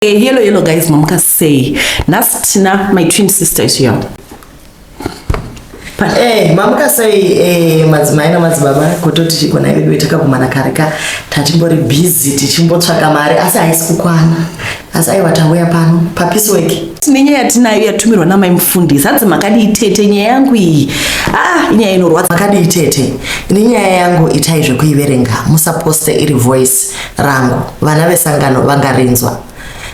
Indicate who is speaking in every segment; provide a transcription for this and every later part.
Speaker 1: Eh, hello hello guys mamuka sei nhasi tina my twin sister is here
Speaker 2: Eh, mamuka sei eh, madzimai namadzibaba kutoti chigona veduwe takakumana kare ka tatimbori busy tichimbotsvaka mari asi haisi kukwana asi aiwa tauya pano papisi weki tine nyaya yatinayo
Speaker 1: yatumirwa namai mufundisi hanzi makadii tete nyaya yangu iyi ah inyaya inorwadza makadii tete
Speaker 2: ini nyaya yangu itai zvekuiverenga musaposte iri voice rangu vana vesangano vangarinzwa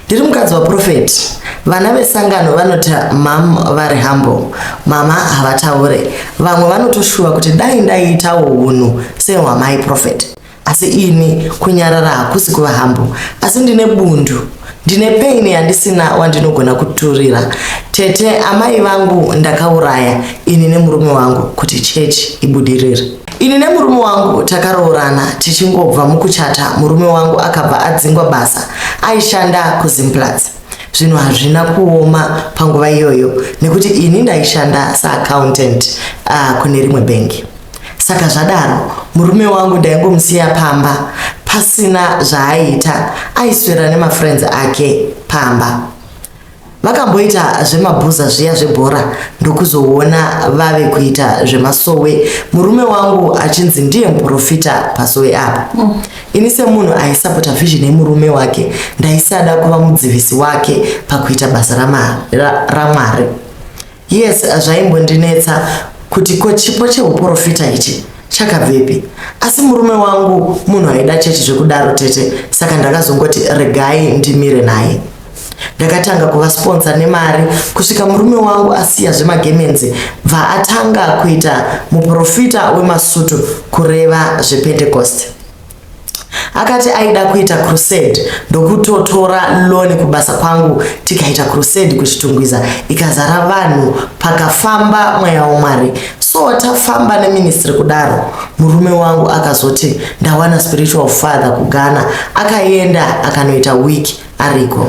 Speaker 2: ndiri mukadzi waprofeti vana vesangano vanoti mam vari humble mama havataure vamwe vanotoshuva kuti dai ndaiitawo unhu sehwamai profeti asi ini kunyarara hakusi kuva humble asi ndine bundu ndine paini yandisina wandinogona kuturira tete amai vangu ndakauraya ini nemurume wangu kuti chechi ibudirire Ini nemurume wangu takaroorana tichingobva mukuchata murume wangu akabva adzingwa basa aishanda kuZimplats. Zvinhu hazvina kuoma panguva iyoyo nekuti ini ndaishanda saaccountant uh, kune rimwe bengi. Saka zvadaro murume wangu ndaingomusiya pamba pasina zvaaiita aiswera nemafriends ake pamba. vakamboita zvemabhuza zviya zvebhora ndokuzoona vave kuita zvemasowe murume wangu achinzi ndiye muprofita pasowe apa mm. ini semunhu aisapota vision yemurume wake ndaisada kuva mudzivisi wake pakuita basa ramwari ra, ra Yes, zvaimbondinetsa kuti ko chipo cheuporofita ichi chakabvepi asi murume wangu munhu aida chechi zvekudaro tete saka ndakazongoti regai ndimire naye ndakatanga kuvasponsa nemari kusvika murume wangu asiya zvemagemenzi bva atanga kuita muprofita wemasutu kureva zvepentecost akati aida kuita crusade ndokutotora loni kubasa kwangu tikaita crusade kuchitungwiza ikazara vanhu pakafamba mweya wamwari so tafamba neministry kudaro murume wangu akazoti ndawana spiritual father kugana akaenda akanoita week ariko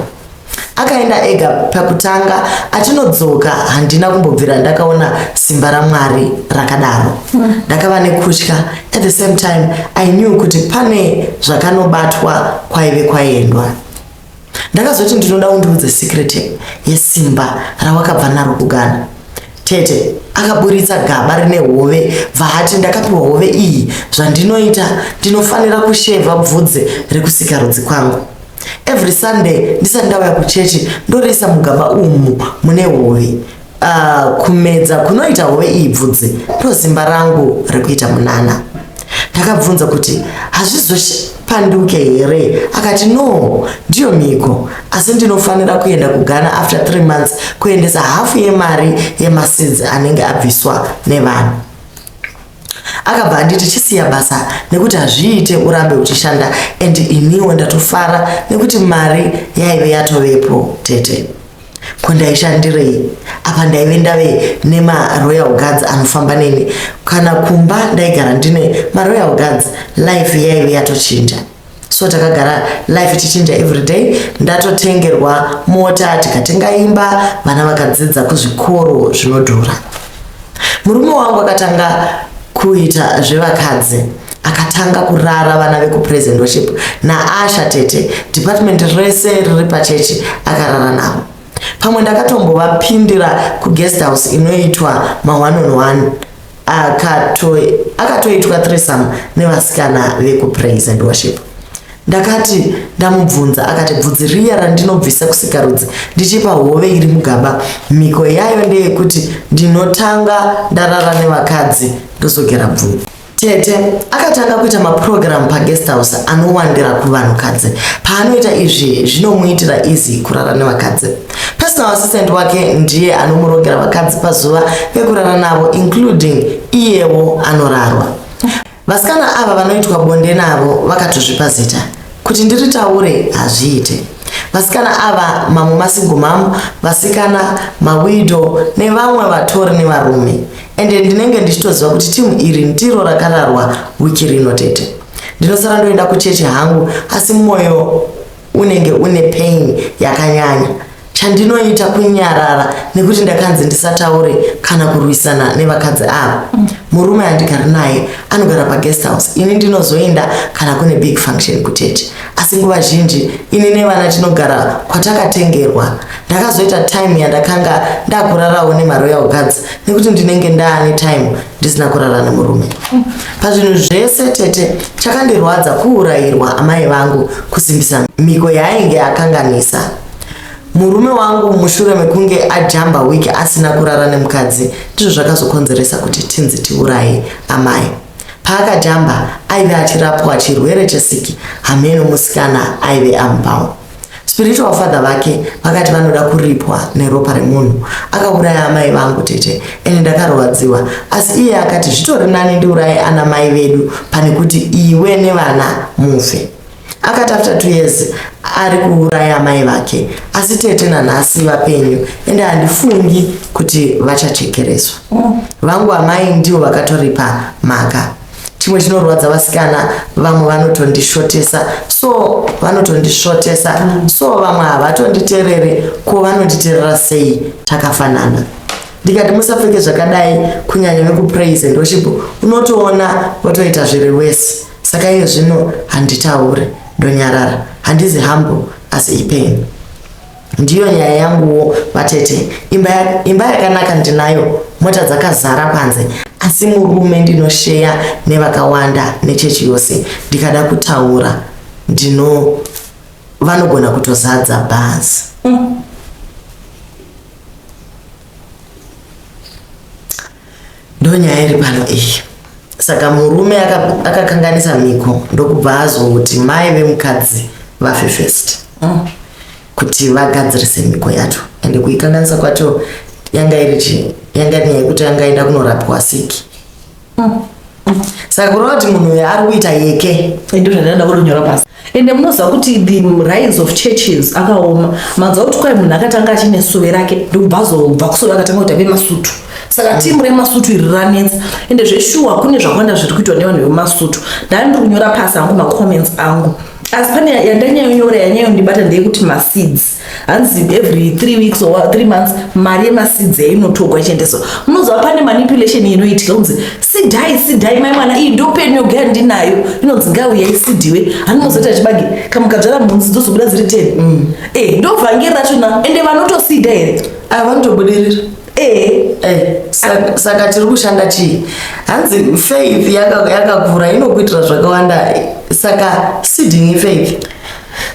Speaker 2: akaenda ega pakutanga achinodzoka handina kumbobvira ndakaona simba ramwari rakadaro ndakava nekutya at the same time i knew kuti pane zvakanobatwa kwaive kwaendwa ndakazoti ndinoda undiudze secret yesimba rawakabva naro kugana tete akaburitsa gaba rine hove vahati ndakapiwa hove iyi zvandinoita ndinofanira kusheva bvudze rekusikarudzi kwangu every sunday ndisati ndauya kuchechi ndoriisa mugaba umu mune hove uh, kumedza kunoita hove iyi bvudzi ndosimba rangu rekuita munana ndakabvunza kuti hazvizopanduke here akati no ndiyo mhiko asi ndinofanira kuenda kugana after three months kuendesa hafu yemari yemasidzi anenge abviswa nevanhu akabva anditi chisiya basa nekuti hazviite urambe uchishanda and iniwo ndatofara nekuti mari yaive yatovepo tete ko ndaishandirei apa ndaive ndave nemaroyal guards anofamba neni kana kumba ndaigara ndine maroyal guards life yaive yatochinja so takagara life ichichinja everyday ndatotengerwa mota tikatenga imba vana vakadzidza kuzvikoro zvinodhura murume wangu akatanga kuita zvevakadzi akatanga kurara vana vekupresent worship naasha tete department rese riri pachechi akarara navo pamwe ndakatombovapindira kuguest house inoitwa ma1 on 1 akatoitwa akato thresome nevasikana vekupraise and worship ndakati ndamubvunza akati bvudzi riya randinobvisa kusikarudzi ndichipa hove iri mugaba mhiko yayo ndeyekuti ndinotanga ndarara nevakadzi ndozogera bvudzi tete akatanga kuita mapurogiramu paguest house anowandira kuvanhukadzi paanoita izvi zvinomuitira izi kurara nevakadzi personal assistant wake ndiye anomurongera vakadzi pazuva vekurara navo including iyewo anorarwa vasikana ava vanoitwa bonde navo vakatozvipa zita kuti ndiritaure hazviite vasikana ava mamwe masingomamu vasikana mawido nevamwe vatori nevarume ende ndinenge ndichitoziva kuti timu iri ndiro rakararwa wiki rino tete ndinosara ndoenda kuchechi hangu asi mwoyo unenge une pain yakanyanya chandinoita kunyarara nekuti ndakanzi ndisataure kana kurwisana nevakadzi ava murume andigari naye anogara paguest house ini ndinozoenda kana kune big function kutete asi nguva zhinji ini nevana tinogara kwatakatengerwa ndakazoita time yandakanga ndakurarawo nemaroyal guards nekuti ndinenge ndaane time ndisina kurara nemurume pazvinhu zvese tete chakandirwadza kuurayirwa amai vangu kusimbisa miko yaainge akanganisa murume wangu mushure mekunge ajamba wiki asina kurara nemukadzi ndizvo zvakazokonzeresa kuti tinzi tiuraye amai paakajamba aive achirapwa chirwere chesiki hameno musikana aive amupawo spiritual father vake vakati vanoda kuripwa neropa remunhu akauraya amai vangu tete ende ndakarwadziwa asi iye akati zvitori nani ndiuraye ana mai vedu pane kuti iwe nevana mufe akati after two years ari kuuraya amai vake asi tete nanhasi vapenyu ende handifungi kuti vachachekereswa mm. vangu amai ndivo vakatoripa mhaka chimwe chinorwadza vasikana vamwe vanotondishotesa so vanotondisvotesa so vamwe havatonditerere ko vanonditerera sei takafanana ndikati musapfeke zvakadai kunyanya vekupraise and worship unotoona votoita zviri wese saka iye zvino handitaure ndonyarara handizi hambo asi ipain ndiyo nyaya yanguwo vatete imba, imba yakanaka ndinayo mota dzakazara panze asi murume ndinosheya nevakawanda nechechi yose ndikada kutaura ndino vanogona kutozadza bhazi mm. Ndonyaya iri pano iyi. Saka murume akakanganisa miko ndokubva azoti mai vemukadzi vafe first. Mm. Kuti vagadzirise miko yacho. Ende kuikanganisa kwacho yanga iri chi yanga nyaya yekuti yanga enda kunorapwa siki. Mm. Mm. Saka kurova kuti munhu uyu ari kuita yeke. Ndizvo zvandada kunyora
Speaker 1: pasi. ende munoziva kuti the rise of churches akaoma manzwa kuti kwai munhu akatanga achine suve rake ndokubva azobva kusuve akatanga kuti ave masutu saka mm. timu remasutu iri ranetsa ende zveshuwa kune zvakawanda zviri kuitwa nevanhu vemasutu ndani ndiri kunyora pasi angu macomments angu asi pane yandanyayonyora yanyayondibata ndeyekuti maseeds hanzi every three weeks or three months mari yemasidzi yainotogwa ichiendeswa munoziva pane manipulation inoitika kunzi sidhai sidhai mai mwana iyi ndopeni yogaya ndinayo inonzi ngauya isidiwe anonozoti achibage kamukadzvara mhunzi dzozobuda dziri ten mm. eh, ndovhangeri racho na ende vanotosida here ah, vanotobudirira
Speaker 2: eh, eh, saka tiri kushanda chii hanzi faith yakakura inokuitira zvakawanda saka siding faith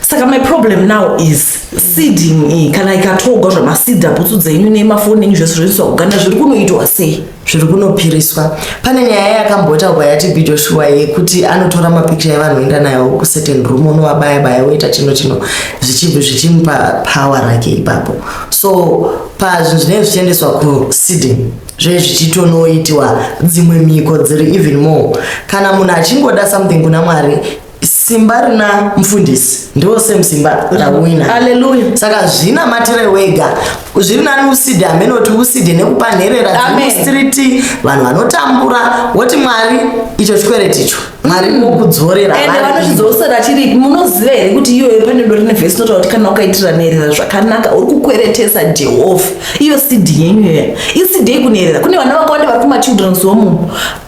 Speaker 2: saka my
Speaker 1: problem now is seeding iyi kana ikatogwa zvamasida bhutsu dzenyu nemafoni enyu zvese zvoiswa kuganda zviri kunoitwa sei zviri kunopiriswa
Speaker 2: pane nyaya yakambotaurwa yatb joshua yekuti anotora mapikicha evanhu oenda nayo kucertain room onovabaya baya oita chino chino zvichibvi zvichimupa power rake ipapo so pazvinhu zvinenge zvichiendeswa kuseeding zve zvichitonoitiwa dzimwe mhiko dziri even more kana munhu achingoda something kuna mwari Simba rina mfundisi ndo same simba rawina. Hallelujah. Saka
Speaker 1: zvina matire
Speaker 2: wega. Zviri nani uside ameno kuti uside nekupa nherera dzi street vanhu vanotambura woti mwari icho chikwereti icho. Mwari mm. mukudzorera. Ende vanochidzosera
Speaker 1: chiri munoziva here kuti iyoyo pane dori ne verse notaura kuti kana ukaitira nherera zvakanaka uri kukweretesa Jehovha. Iyo sidi yenyu iya. Isidei kunherera. Kune vana vakawanda vari kuma children's home.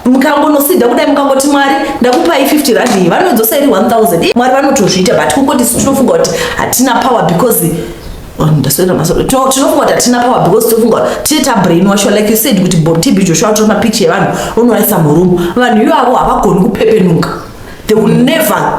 Speaker 1: mukangonosida kudai mukangoti mwari ndakupai 50 rand iyi vanodzosa iri 1000 mwari vanotozviita but kungoti tinofunga kuti hatina power because oh, ndaswera masoro tinofunga kuti hatina power because tinofunga kuti tine tabrain washo like you said kuti tb joshua tora mapicha evanhu unowaisa murumu vanhu ivavo havagoni kupepenuka they will never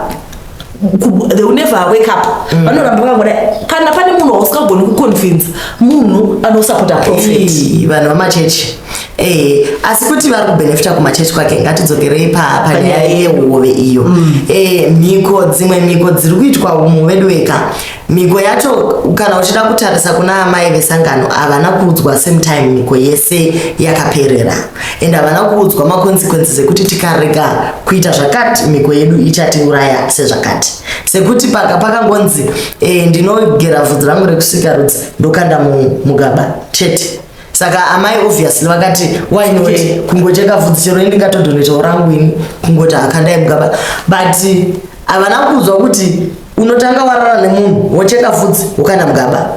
Speaker 1: they will never wake up mm. vanoramba vakangoda kana pane munhu wausingagoni kuconvince munhu anosapota profet vanhu vamachechi
Speaker 2: Eh, asi kuti vari kubenefita kumachechi kwake ngatidzokerei panyaya yehove iyo mm. eh, mhiko dzimwe mhiko dziri kuitwa umu veduweka Mhiko yacho kana uchida kutarisa kuna amai vesangano havana kuudzwa same time mhiko yese yakaperera and havana kuudzwa maconsequences ekuti tikarega kuita zvakati mhiko yedu ichatiuraya sezvakati sekuti paka pakangonzi e, ndinogera vhudzi rangu rekusika rudzi ndokanda mugaba chete saka amai obviously vakati why not kungocheka vhudzi chero indingatodonetawo rangu ini kungoti akandai mugaba but havana kuudzwa kuti unotanga warara nemunhu wocheka vhudzi ukaenda mugaba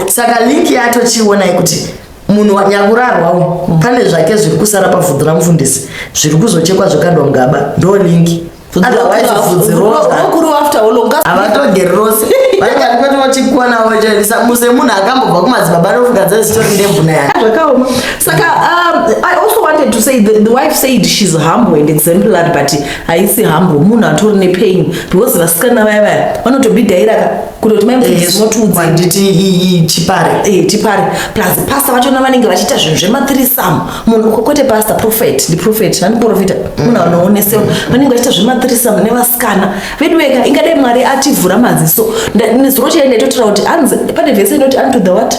Speaker 2: saka link yacho chionai kuti munhu nyakurarwawo mm. pane zvake zviri kusara pavhudzi ramufundisi zviri kuzochekwa zvokandwa mugaba ndo link otherwise
Speaker 1: vhudzi roavatogeri rose
Speaker 2: vaikatikotochikuonawo chavisa muse munhu akambobva kumadzibaba ndofunga dzaizitori ndembuna yake zvakaoma saka
Speaker 1: um, i also wanted to say the, the wife said she's humble and exemplary but haisi humble munhu atori nepain because vasikana vaya vaya vanotobidhairaka kutoti maimotudzaanditi
Speaker 2: eh, chipare eh, chipare plus
Speaker 1: pasta vachona vanenge vachiita zvinhu zvemathirisam munhu kwete pasta prophet ndiprofet andiprofita mm. munhu anoonesewa vanenge vachiita zvemathirisam nevasikana veduweka ingadai mwari ativhura maziso nezuro chaidaitotora kuti anzi pane vese inoti unto the what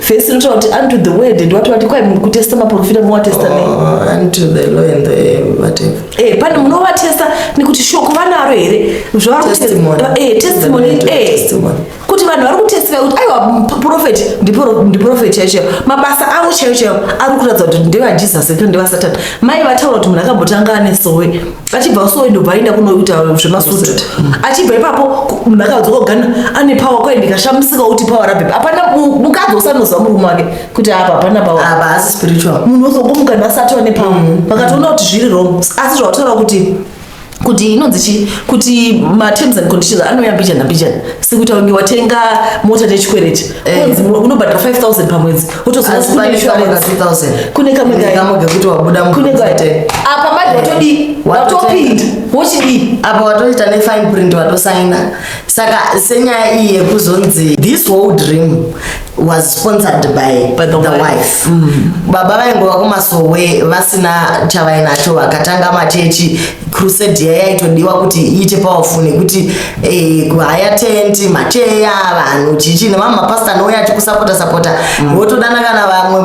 Speaker 1: First not what unto the word and what what kwa munhu kutesta maprofita mu testa nei? Oh, unto the
Speaker 2: law and the whatever. Eh, pane munhu wa testa
Speaker 1: nekuti shoko vanaro here? Zvavari testimony. Eh, testimony. Eh. Kuti vanhu vari kutestify kuti aiwa prophet ndi ndi prophet chaicho. Mabasa avo chaicho ari kuratidza kuti ndeva Jesus here ndeva Satan. Mai vataura kuti munhu akambotanga ane sowe. achibva kusowe ndobva aenda kunoita zvemasutu achibva ipapo ndakadzoka kugana ane pawa kwaye ndikashamisika kuti pawa rabhepa hapana mukadzi usanoziva murume wake kuti apa hapana pawamunhu
Speaker 2: wozongomuka ndasati
Speaker 1: wane pawa mm. vakatoona kuti zviri wrong asi zvawataura kuti kuti inonzi chi kuti materms and conditions anouya mbijana mbijana sekuita kunge watenga mota nechikwereti eh. kunzi unobhadhira 5000 pamwedzi kune kamwe kekuti wabuda
Speaker 2: apa
Speaker 1: manje watodii watopinda wochidii apa watoita
Speaker 2: nefine print watosaina saka senyaya iyi yekuzonzi this whole dream was sponsored by, by the, the wife, wife. Mm. baba vaingova kumasowe vasina chavainacho vakatanga machechi crusade yayaitodiwa kuti iite powerful nekuti eh, kuhaya tenti macheya vanhu chichi nemamwe mapasita anouya achikusapota sapota mm. wotodana kana vamwe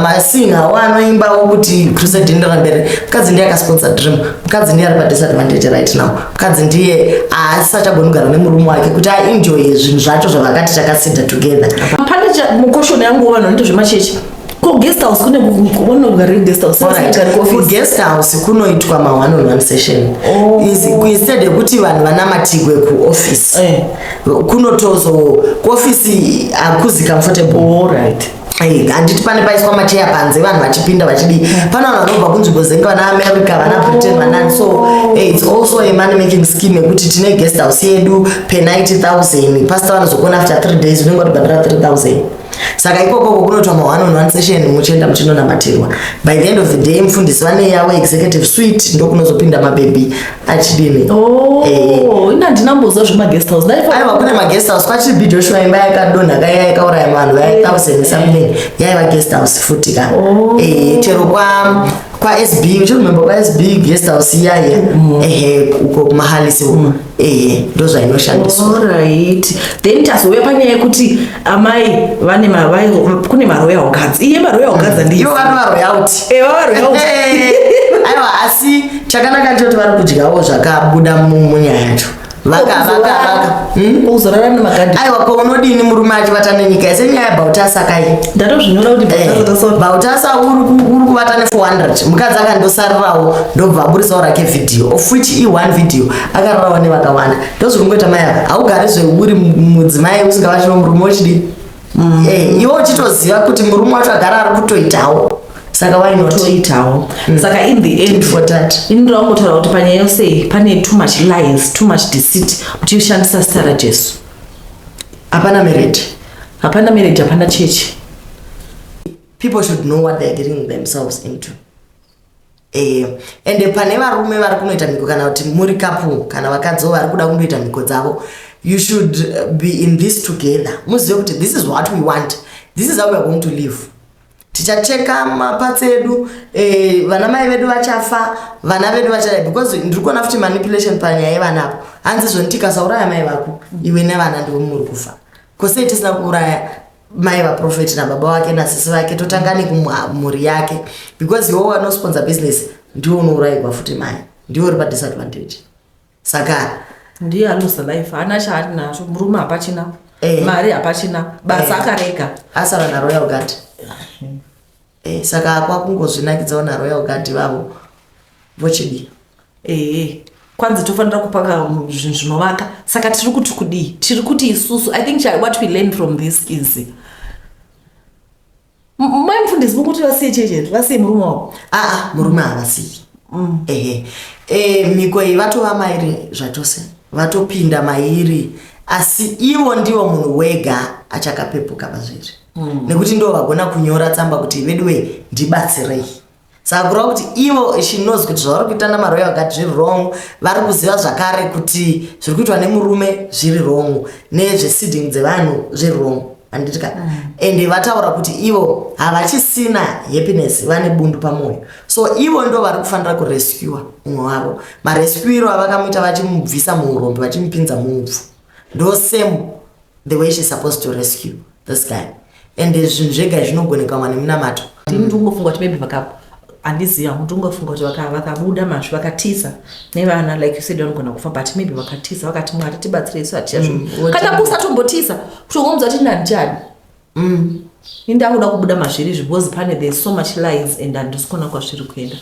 Speaker 2: masinga wo anoimbawo kuti crusade inoenda pamberi mukadzi ndiye akasponsor dream mukadzi ndiye ari padisadvantage right now mukadzi ndiye asisachagoni kugara nemurume wake kuti aenjoye zvinhu zvacho zvavakati takasinda together pane mukoshoni
Speaker 1: yangu vanhu vanoita zvemachechi Ko guest house kune kunogara kune guest house.
Speaker 2: Ku guest house kunoitwa ma one on one session. Oh. Is instead yekuti vanhu vanamatigwe ku office. Eh. Kunotozo ku office akuzi comfortable. All right. handiti pane paiswa macheya panze vanhu vachipinda vachidii pane vanhu vanobva kunzvimbo dzenge vana america vana britain vanani so eh, its also a money making scheme yekuti tine guest house yedu per 90000 pasta vanozokona after 3 days unenge watobhandira 3000 saka ikoko uko kunoitwa ma one on one session muchienda muchinonamatirwa by the end of the day mufundisi vane yavo executive suite ndokunozopinda mabhebhi achidini oh, eh.
Speaker 1: ina ndinamboziva zvemaguest house aiwa kune maguest house
Speaker 2: kwachiri bhi joshua imba yakadonha kaya yakauraya vanhu vaya thousand eh. something yaiva guest house futi ka oh. eh, chero kwa kwaSB uchiremember kwaSB guest house iyaya mm. ehe uko kumahalisi uko mm. eye ndozvainoshandiswa orit
Speaker 1: then tazouya panyaya yekuti amai vane mavai kune maroyal guards iye maroyal guards mm. andiivo vano varoyalty
Speaker 2: eh, varoyalty aiwa asi chakanaka ndechoti vari kudyawo zvakabuda munyaya yacho vakavakavakaaiwa
Speaker 1: hmm? ko unodini
Speaker 2: murume achivata nenyika yese nyaya yabautasakai ndatozvinyora kuti
Speaker 1: eh, bautasa
Speaker 2: uri kuvata ne400 mukadzi akandosarirawo ndobva aburisawo rake vhidhiyo of which e1 vhidhiyo akararwa nevakawanda ndozvikungoita mai aka haugare zveuri mudzimai usingavachino murume wechidii mm. eh, iwo uchitoziva kuti murume wacho agara ari kutoitawo saka why not toitawo mm.
Speaker 1: saka in the end for that ini ndirakungotaura
Speaker 2: kuti panyaya
Speaker 1: yose iyi pane too much lies too much deceit kuti ushandisa zita rajesu
Speaker 2: hapana marriage hapana marriage
Speaker 1: hapana chechi
Speaker 2: people should know what they're getting themselves into Eh, ende pane varume vari kunoita mhiko kana kuti muri kapu kana vakadziwo vari kuda kundoita mhiko dzavo you should uh, be in this together muzive kuti this is what we want this is how weare going to live tichacheka maparts edu eh, vana mai vedu vachafa vana vedu vachada because ndiri kuona futi manipulation panyaya yevana apo hanzi zvonitikasauraya mai vako iwe nevana ndivo muri kufa kosei tisina kuuraya mai vaprofeti nababa wake nasisi vake totanga nekumhuri yake because iwo wanosponsa business ndiwo unourayirwa futi mai ndiwo uri padisadvantage saka ndiye anosa
Speaker 1: life haana chaari nazvo murume hapachina eh. mari hapachina basa eh. akarega asava naroyal
Speaker 2: gard Eh, saka kwakungozvinakidzawo naroyal guard vavo vochidii ehe eh,
Speaker 1: kwanzi tofanira kupanga um, zvinhu zvinovaka saka tiri kuti kudii tiri kuti isusu i think what we learn from this is mai mufundisi mukuti vasiye chechetu vasiye murume wavo aa
Speaker 2: ah, ah,
Speaker 1: murume havasiyi mm. ehe
Speaker 2: eh, mhiko iyi vatova mairi zvachose vatopinda mairi asi ivo ndivo munhu wega achakapepuka pazviri mm. nekuti ndo vagona kunyora tsamba kuti veduwei ndibatsirei saka kureva kuti ivo she knows kuti zvavari kuita namaroyo vakati zviri wrong vari kuziva zvakare kuti zviri kuitwa nemurume zviri wrong nezvesiding dzevanhu zviri wrong anditika mm. ende vataura kuti ivo havachisina happiness vane bundu pamwoyo so ivo ndo vari kufanira kurescua umwe wavo marescuiro avakamuita vachimubvisa muurombi vachimupinza muupfu ndo same the way she's supposed to rescue this guy and zvinhu zvega zvinogonekwa mwana munamato ndini ndingofunga kuti maybe
Speaker 1: vakapo handiziva kuti ungafunga kuti vakabuda masvi vakatiza nevana like you said vanogona kufa but maybe vakatiza vakati mwari tibatsire isu hatichazvo mm, kana kusatombotisa kutongonzwa kuti ndandichadi Umm ini ndakuda kubuda mazviri izvi because pane there so much lies and handisi kuona kwazviri kuenda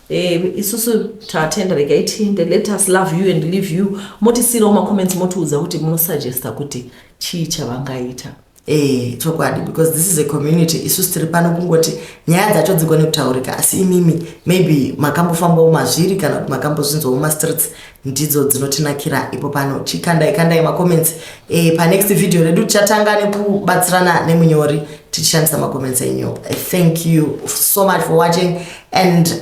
Speaker 1: Eh, isusu tatenda regai tiinde let us love you and leave you motisiirawo macomments motiudza kuti munosuggesta kuti chii chavangaita Eh, chokwadi
Speaker 2: because this is a community isusu tiri pano kungoti nyaya dzacho dzigone kutaurika asi imimi maybe makambofambawo mazviri kana kuti makambozvinzwawo mumastreets ndidzo dzinotinakira ipo pano chikandai kandai macomments e, panext video redu tichatanga nekubatsirana nemunyori tichishandisa macomments enyu thank you so much for watching and